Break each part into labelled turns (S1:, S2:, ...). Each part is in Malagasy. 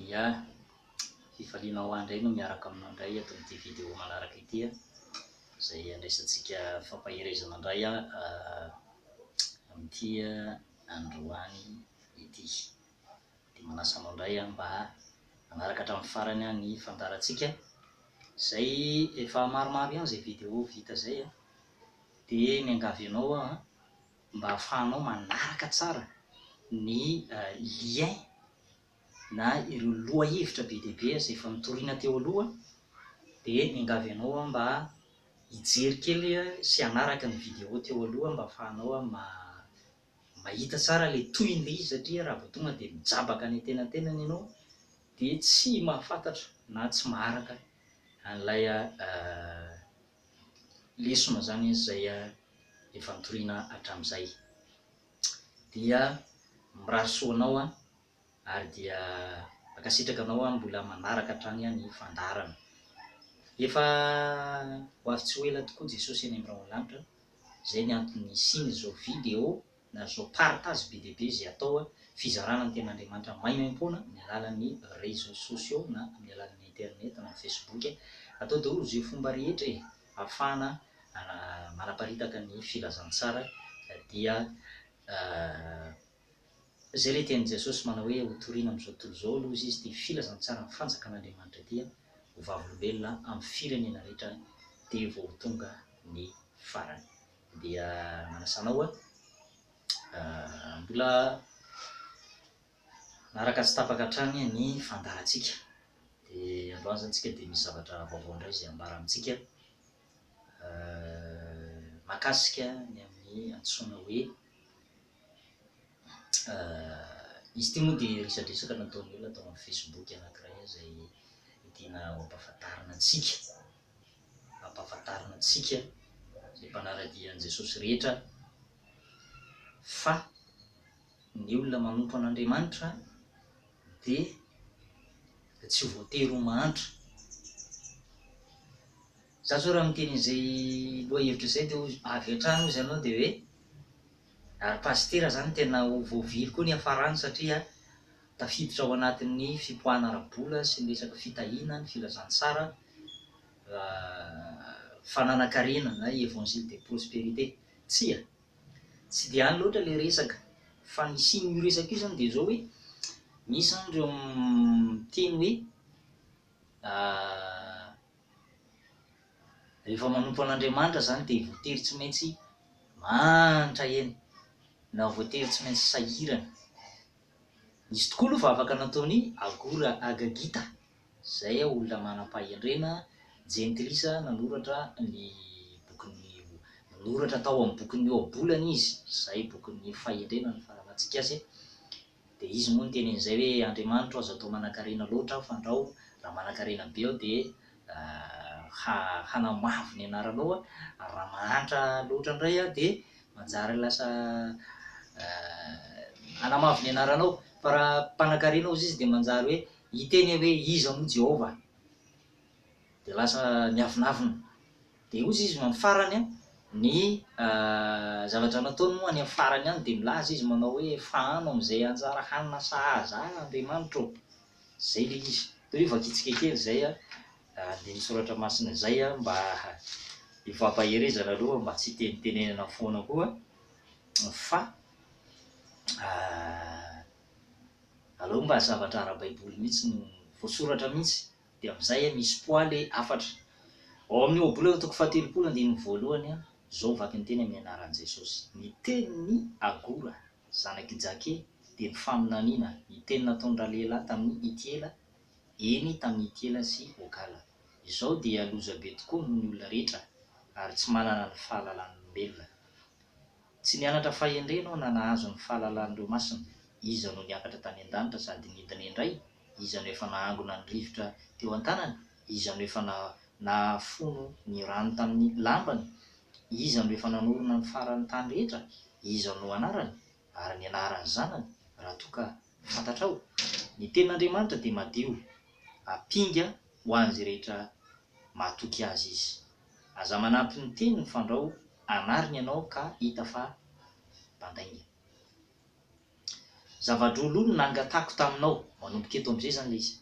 S1: Ia, hifaliana ho ahy indray ny miaraka aminao indray eto amin'ity vidéo manaraka ity an, izay handraisantsika fampaherezana indray an amin'ity androany ity. Dia manasa anao indray an mba hanaraka hatramin'ny farany an ny fandaharantsika, izay efa maromaro ihany izay vidéo vita izay an, dia miangavy anao aho an mba ahafahanao manaraka tsara ny lien na ireo lohahevitra be dia be izay efa notorina teo aloha dia miangavy anao aho mba hijery kely sy hanaraka ny video teo aloha mba ahafahanao mahita tsara ilay tohiny ilay izy satria raha vao tonga dia mijabaka any antenantenany ianao dia tsy mahafantatra na tsy maharaka an'ilay lesona izany izay efa nitoriana hatramin'izay. Dia mirary soa anao aho ary dia mankasitraka anao aho mbola manaraka hatrany ny fandaharana. Efa ho avy tsy ho ela tokoa Jesosy any amin'ny rahon'ny lanitra, izay ny antony nisian'izao video na zao partage be dia be zay atao a, fizarana ny tenin'Andriamanitra maimaimpoana amin'ny alalan'ny réseaux sociaux na amin'ny alalan'ny internet na ny facebook e, atao daholo ze fomba rehetra e, afahana manaparitaka ny filazantsara dia zay le tenin'i Jesosy manao hoe ho torina amin'izao tontolo izao aloha izy dia filazantsaran'ny fanjakan'Andriamanitra dia ho vavolombelona amin'ny firenena rehetra dia vao ho tonga ny farany. dia manasa anao hoe mbola manaraka tsy tapaka hatrany ny fandaharantsika. Dia androany izany tsika dia misy zavatra vaovao indray izay ambara amintsika makasika ny amin'ny antsoina hoe izy ity moa dia resadresaka nataon'ny olona tao amin'ny Facebook anankiray izay tiana ho ampahafantarina antsika. hampahafantarina antsika izay mpanara-dia an'i Jesosy rehetra fa ny olona manompo an'Andriamanitra dia tsy voatery ho mahantra. Za zao raha miteny an'izay lohahevitra izay dia avy hatrany hozy ianao dia hoe ary pasitera izany tena ho voavily koa ny hiafarany satria tafiditra ao anatin'ny fipoahana ara-bola sy ny resaka fitahiana ny filazantsara fananan-karena na évangile de prospérité. Tsia, tsy dia any loatra ilay resaka, fa ny hisian'io resaka io izany dia izao hoe, misy izany ireo miteny hoe rehefa manompo an'Andriamanitra izany dia voatery tsy maintsy mahantra eny, na voatery tsy maintsy sahirana. Nisy tokoa aloha vavaka nataon'i Agora Agagita, Izay aho olona manam-pahendrena, jentilisa, nanoratra ny bokin'ny O. Nanoratra tao amin'ny bokin'ny Ohabolana izy, izay bokin'ny fahendrena ny farany hatsikase. Dia izy moa niteny an'izay hoe, Andriamanitro, aza atao manankarena loatra aho, fandrao, raha manankarena be aho dia ha, hanamavo ny anaranao, ary raha mahantra loatra indray aho dia manjary lasa hanamavo ny anaranao, fa raha mpanankarena aho hozy izy dia manjary hoe, Hiteny hoe, Iza moa Jehovah? Dia lasa miavonavona. Dia hoy izy amin'ny farany, ny zavatra nataony moa any amin'ny farany any, dia milaza izy manao hoe, Fahano amin'izay anjara hanina sahaza ahy, Andriamanitra ô! Izay ilay izy. Toy ny vakitsika kely izay andininy Soratra Masina izay, mba hifampaherezana aloha, mba tsy hitenitenenana foana koa fa Aleo mba zavatra ara-baiboly mihitsy no voasoratra mihitsy dia amin'izay a misy poids le hafatra. Ao amin'ny Ohabola eo toko fahatelopolo andininy voalohany a, izao vaky ny teny amin'ny anaran'i Jesosy, Ny tenin'i Agora, zanak'i Jake, dia ny faminaniana, ny teny nataon'ny ralehilahy tamin'i Itiela, eny, tamin'i Itiela sy Ogala. Izao dia loza be tokoa noho ny olona rehetra ary tsy manana ny fahalalan'olombelona. Tsy nianatra fahendrena aho na nahazo ny fahalalan'ireo masina, iza no niakatra tany an-danitra sady nidina indray, iza no efa nahangona ny rivotra teo an-tanany, iza no efa nahafono ny rano tamin'ny lambany, iza no efa nanorina ny faran'ny tany rehetra, iza no anarany, ary ny anaran'ny zanany, raha toa ka fantatrao? Ny tenin'Andriamanitra dia madio, ampinga ho an'izay rehetra mahatoky azy izy. Aza manampy ny teny ny fandrao anariny ianao ka hita fa mpandainga. Zava-droa-loha no nangatahako taminao, manomboka eto amin'izay izany ilay izy,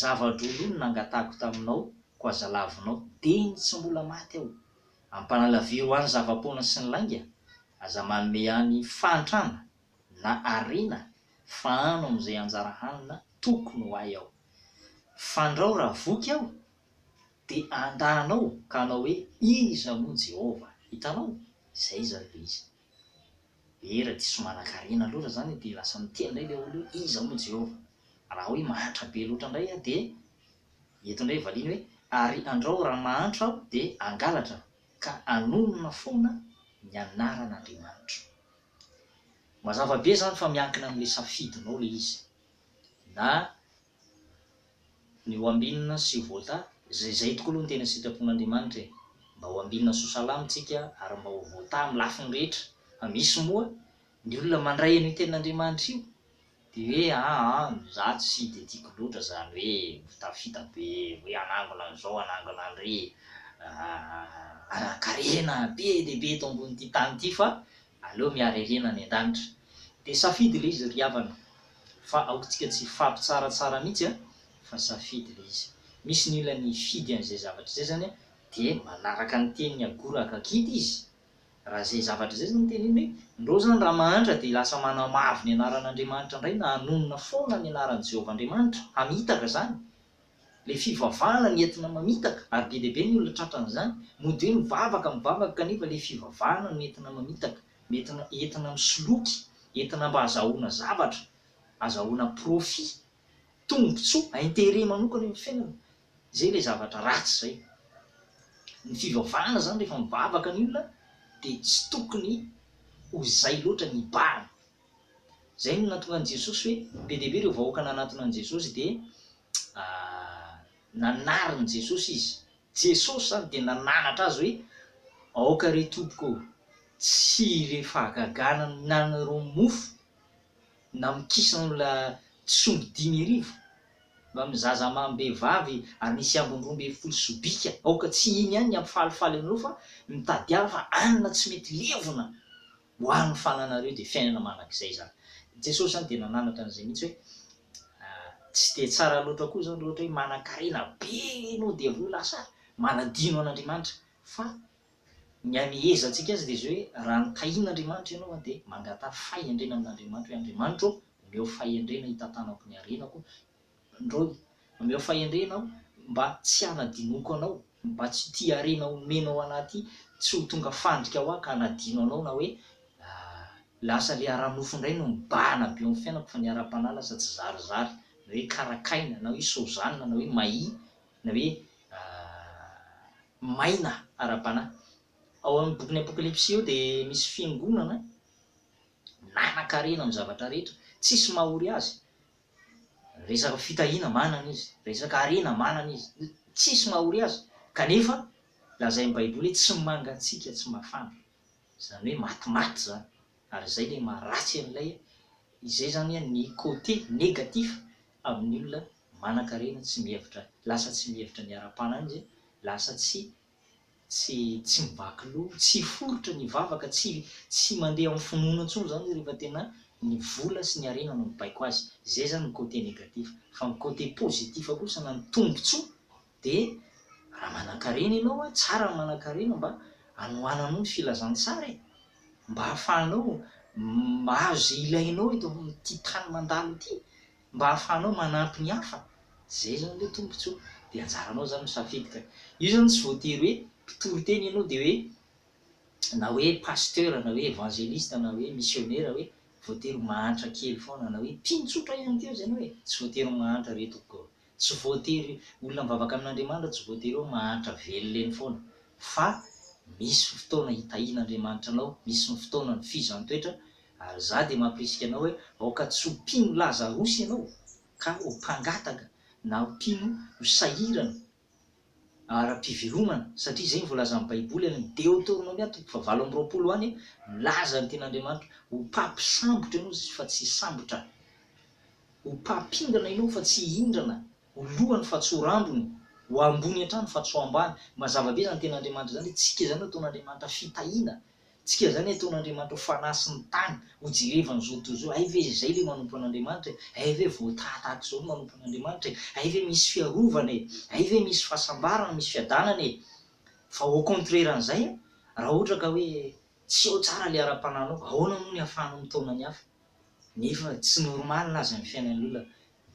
S1: zava-droa-loha no nangatahako taminao, koa aza lavinao, dia ny tsy mbola maty aho. Ampanalaviro any zava-poana sy ny lainga, aza manome any fahantrana na harena fahano amin'izay anjara hanina tokony ho ahy aho. Fandrao raha voky aho dia handà anao ka hanao hoe, Iza moa Jehovah? Hitanao? Izay izany ilay izy. Ee, raha diso manankarena loatra izany dia lasa miteny indray ilay olona hoe, Iza moa Jehovah? Raha hoe mahantra be loatra indray aho dia eto indray valiany hoe, Ary andrao raha mahantra aho dia hangalatra aho, ka hanonona foana ny anaran'Andriamanitro. Mazava be izany fa miankina amin'ilay safidinao ilay izy. Na ny ho ambinina sy voata, izay izay tokoa aloha ny tena sitrapon'Andriamanitra e, mba ho ambinina sy ho salama isika ary mba ho voata amin'ny lafiny rehetra, fa misy moa ny olona mandray an'io tenin'Andriamanitra io dia hoe aa za tsy dia tiako loatra izany hoe mitafita be hoe hanangona an'izao hanangona an'ireny, hanan-karena be dia be eto ambonin'ity tany ity fa Aleo miara irina any an-danitra. Dia safidy ilay izy ry havana. Fa aokantsika tsy hifampitsaratsara mihitsy a! Fa safidy ilay izy. Misy ny olona nifidy an'izay zavatra izay izany a, dia manaraka ny tenin'i Agoraka kity izy. Raha izay zavatra izay izany ny teniny hoe, ndrô izany raha mahantra dia lasa manamavo ny anaran'Andriamanitra indray na hanonona foana ny anaran'i Jehovah Andriamanitra, hamitaka izany. Ilay fivavahana no entina mamitaka ary be dia be ny olona tratra an'izany. Mody hoe mivavaka, mivavaka kanefa ilay fivavahana no entina mamitaka, entina entina misoloky, entina mba azahoana zavatra, azahoana profit, tombotsoa, intérêt manokana eo amin'ny fiainana. Izay ilay zavatra ratsy izay. Ny fivavahana izany rehefa mivavaka ny olona dia tsy tokony ho izay loatra ny hibahana. Izay no nahatonga an'i Jesosy hoe be dia be ireo vahoaka nanatona an'i Jesosy dia nanarin'i Jesosy izy. Jesosy izany dia nananatra azy hoe aoka re Tompoko ô, tsy ilay fahagagana mihinanana ireo mofo na mikisana olona tsy omby dimy arivo mba amin'ny zaza amam-behivavy ary nisy ambiny roa ambin'ny folo sobika, aoka tsy iny ihany ny hampifalifaly anareo fa mitadiava hanina tsy mety levona Ho ahy ny fananareo dia fiainana manak'izay izany. I Jesosy izany dia nananatra an'izay mihitsy hoe tsy dia tsara loatra koa izany raha ohatra hoe manankarena be ianao dia avy eo lasa manadino an'Andriamanitra fa ny amehezantsika azy dia izao hoe raha nitahian'Andriamanitra ianao dia mangataha fahendrena amin'Andriamanitra hoe Andriamanitra ô omeo fahendrena hitantanako ny harenako Androany, omeo fahendrena aho mba tsy hanadinoako anao, mba tsy tia harena omena ao anaty tsy ho tonga fandrika ho ahy ka hanadino anao na hoe lasa le ara-nofo indray no mibahana be eo amin'ny fiainako fa ny ara-panahy lasa tsy zarizary na hoe karakaina na hoe sozanina na hoe mahi na hoe maina ara-panahy. Ao amin'ny bokin'ny Apokalypsy io dia misy fiangonana nanankarena amin'ny zavatra rehetra, tsisy maha ory azy, resaka fitahiana manana izy, resaka harena manana izy, tsisy mahory azy, kanefa lazain'ny baiboly hoe tsy mangatsiaka tsy mafana, izany hoe matimaty izany, ary izay ilay maha ratsy an'ilay, izay izany ny côté négatif amin'ny olona manankarena tsy mihevitra, lasa tsy mihevitra ny ara-panahin'izy, lasa tsy tsy tsy mivaky loha, tsy hiforitra ny vavaka, tsy tsy mandeha amin'ny finoana intsony izany izy rehefa tena ny vola sy ny harena no mibaiko azy. Izay izany ny côté négatif. Fa ny côté positif kosa na ny tombontsoa dia raha manan-karena ianao, tsara ny manan-karena mba hanohananao ny filazantsara e! Mba hahafahanao mahazo izay ilainao eto amin'ity tany mandalo ity. Mba ahafahanao manampy ny hafa, zay zany le tombotsoa. De anjaranao zany misafidy ka. Io zany tsy voatery hoe mpitory teny ianao de hoe na hoe pasteur na hoe evangeliste na hoe missionera hoe voatery ho mahantra kely foana na hoe mpino tsotra ihany keo zay anao e. Tsy voatery ho mahantra re tompoko o. Tsy voatery olona mivavaka amin'Andriamanitra tsy voatery hoe mahantra velona eny foana fa misy fotoana hitahian'Andriamanitra anao, misy ny fotoanany fihizan-toetra Ary izaho dia mampirisika anao hoe aoka tsy ho mpino lazarosy ianao, ka ho mpangataka na mpino ho sahirana ara-pivelomana, satria izay no voalazan'ny Baiboly any amin'ny Deoteronomia toko fahavalo amby roapolo any, milaza ny tenin'Andriamanitra, Ho mpampisambotra ianao fa tsy sambotra, ho mpampindrana ianao fa tsy hindrana, ho lohany fa tsy ho rambony, ho ambony hatrany fa tsy ho ambany. Mazava be izany tenin'Andriamanitra izany, hoe tsika izany no ataon'Andriamanitra fitahiana. Tsika zany ataon'Andriamanitra ho fanahy sy ny tany ho jerevany zao tontolo zao, hay ve zay le manompo an'Andriamanitra e, hay ve vao taha tahaka zao no manompo an'Andriamanitra e, hay ve misy fiarovana e, hay ve misy fahasambarana, misy fiadanana e, fa au contraire an'izay an, raha ohatra ka hoe tsy ao tsara le ara-panahinao, ahoana moa ny ahafahanao mitaona ny hafa? nefa tsy normal aza ny fiainan'olona,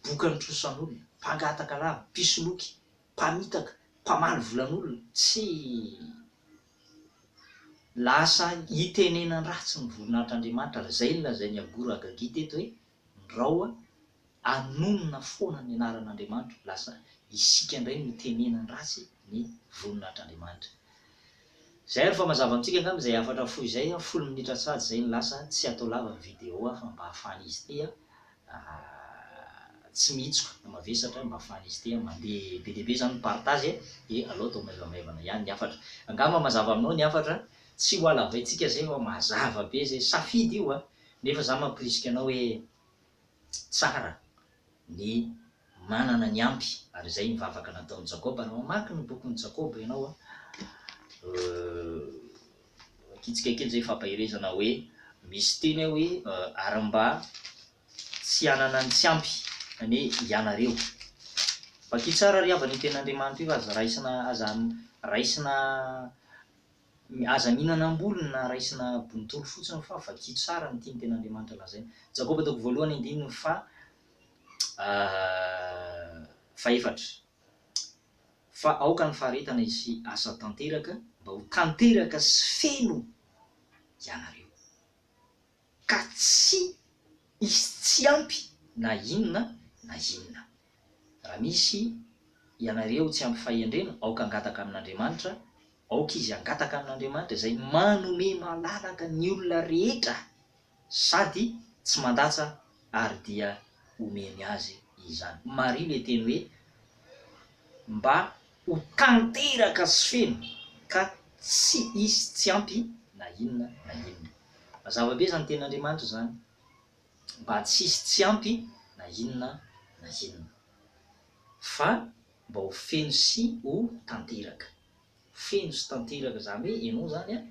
S1: bokany trosan'olona, mpangataka lava, mpisoloky, mpamitaka, mpamaly volan'olona, tsy. Lasa itenenan ratsy ny voninahitr Andriamanitra ary izay no lazain i Agur Agagi teto hoe ny raoa anonona foana ny anaran Andriamanitra lasa isika indray no itenenan ratsy ny voninahitr Andriamanitra Izay ary fa mazava amintsika angamba izay hafatra fohy izay, folo minitra sady izay no lasa, tsy atao lava ny video aho fa mba ahafahan izy ity tsy mihitsoka na mavesatra mba afahan'izy ity mandeha be dia be izany ny partage dia alao atao maivamaivana ihany ny hafatra. Angamba mazava aminao ny hafatra, tsy ho halavaintsika izay fa mazava be izay, safidy io a! Nefa za mampirisika anao hoe tsara ny manana ny ampy ary izay ny vavaka nataon'i Jakoba, raha mamaky ny bokin'i Jakoba ianao a, kitsika kely zay fampaherezana hoe misy teny ao hoe ary mba tsy hanana ny tsy ampy zany hoe ianareo vakio tsara ry havana io tenin'Andriamanitra io aza raisina aza raisina aza mihinana am-bolony na raisina bontolo fotsiny fa vakio tsara ny tian'ny tenin'Andriamanitra lazaina Jakoba toko voalohany andininy faha fahefatra. fa aoka ny faharetana hisy asa tanteraka mba ho tanteraka sy feno ianareo ka tsy hisy tsy ampy na inona na inona. Raha misy ianareo tsy ampy fahendrena, aoka hangataka amin'Andriamanitra, aoka izy hangataka amin'Andriamanitra izay manome malalaka ny olona rehetra Sady tsy mandatsa ary dia omeny azy izany. Marina e teny hoe mba ho tanteraka sy feno ka tsy hisy tsy ampy na inona na inona. Mazava be izany tenin'Andriamanitra izany. Mba tsy hisy tsy ampy na inona na inona. Fa mba ho feno sy ho tanteraka. feno sy tanteraka zany hoe enao zany an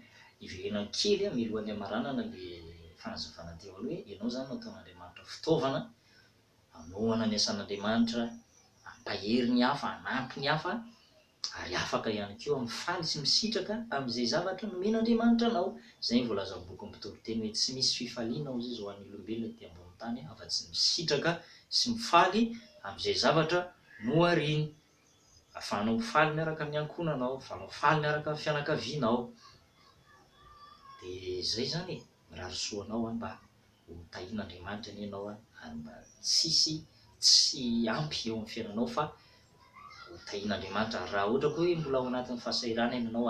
S1: iverenany kely an milohan'ny hamaranana le fanazavana teo aloha hoe enao zany no ataon'Andriamanitra fitaovana anohana ny asan'Andriamanitra ampahery ny hafa anampy ny hafa ary afaka ihany koa mifaly sy misitraka amin'izay zavatra nomen'Andriamanitra anao zay ny voalazan'ny bokin'ny mpitoriteny hoe tsy misy fifaliana hozy izy hoan'ny olombelona ety ambony tany afa tsy ny misitraka sy mifaly amin'izay zavatra nohariany Ahafahanao mifaly miaraka amin'ny ankohonanao, ahafahanao mifaly miaraka amin'ny fianakavianao. Dia izay izany e, mirary soa anao aho mba ho tahian'Andriamanitra anie ianao ary mba tsy hisy tsy ampy eo amin'ny fiainanao fa ho tahian'Andriamanitra. Ary raha ohatra koa hoe mbola ao anatin'ny fahasahiranana ianao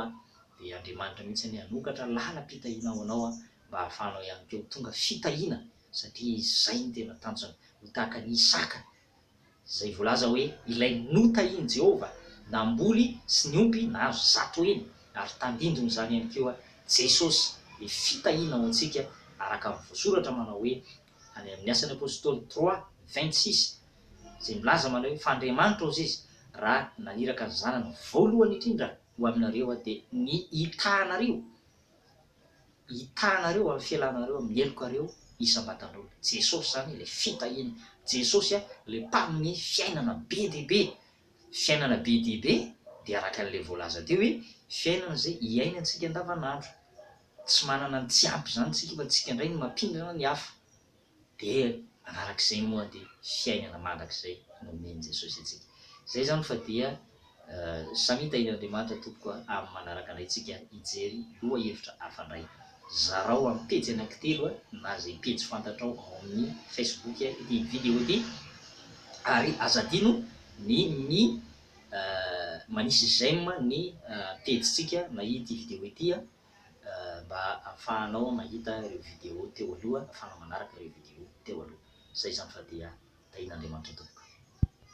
S1: dia Andriamanitra mihitsy anie hanokatra lalam-pitahiana ho anao mba hahafahanao ihany koa ho tonga fitahiana satria izay no tena tanjona. Ho tahaka an'i Isaka izay voalaza hoe ilay notahian'i Jehovah namboly sy niompy nahazo zato heny, ary tandindon'izany ihany koa Jesosy, ny fitahiana ho antsika araka ny voasoratra manao hoe, any amin'ny Asan'ny Apostoly trois, vingt six, izay milaza manao hoe, Fa Andriamanitra hozy izy, raha naniraka ny Zanany voalohany indrindra ho aminareo aho, dia ny hitahanareo. Hitanareo amin'ny fialanareo amin'ny helokareo isam-batan'olo. Jesosy izany ilay fitahiana. Jesosy ilay mpanome fiainana be dia be. Fiainana be dia be dia araka an'ilay voalaza teo hoe fiainana izay hiainantsika andavanandro. Tsy manana ny tsy ampy izany tsika fa tsika indray no mampindrana ny hafa. dia arak'izay moa dia fiainana mandrakizay no omen'i Jesosy antsika. Izay izany fa dia samita eny Andriamanitra tompoko a, amin'ny manaraka anay tsika hijery loha hevitra hafa indray. Zarao amin'ny pejy anankitelo na izay pejy fantatrao ao amin'ny Facebook ity video ity ary aza adino ny mi manisy j'aime ny pejy tsika na ity video ity a. mba afahanao mahita ireo video teo aloha afahanao manaraka ireo video teo aloha. Zay zany fa dia tahian'Andriamanitra tompoko.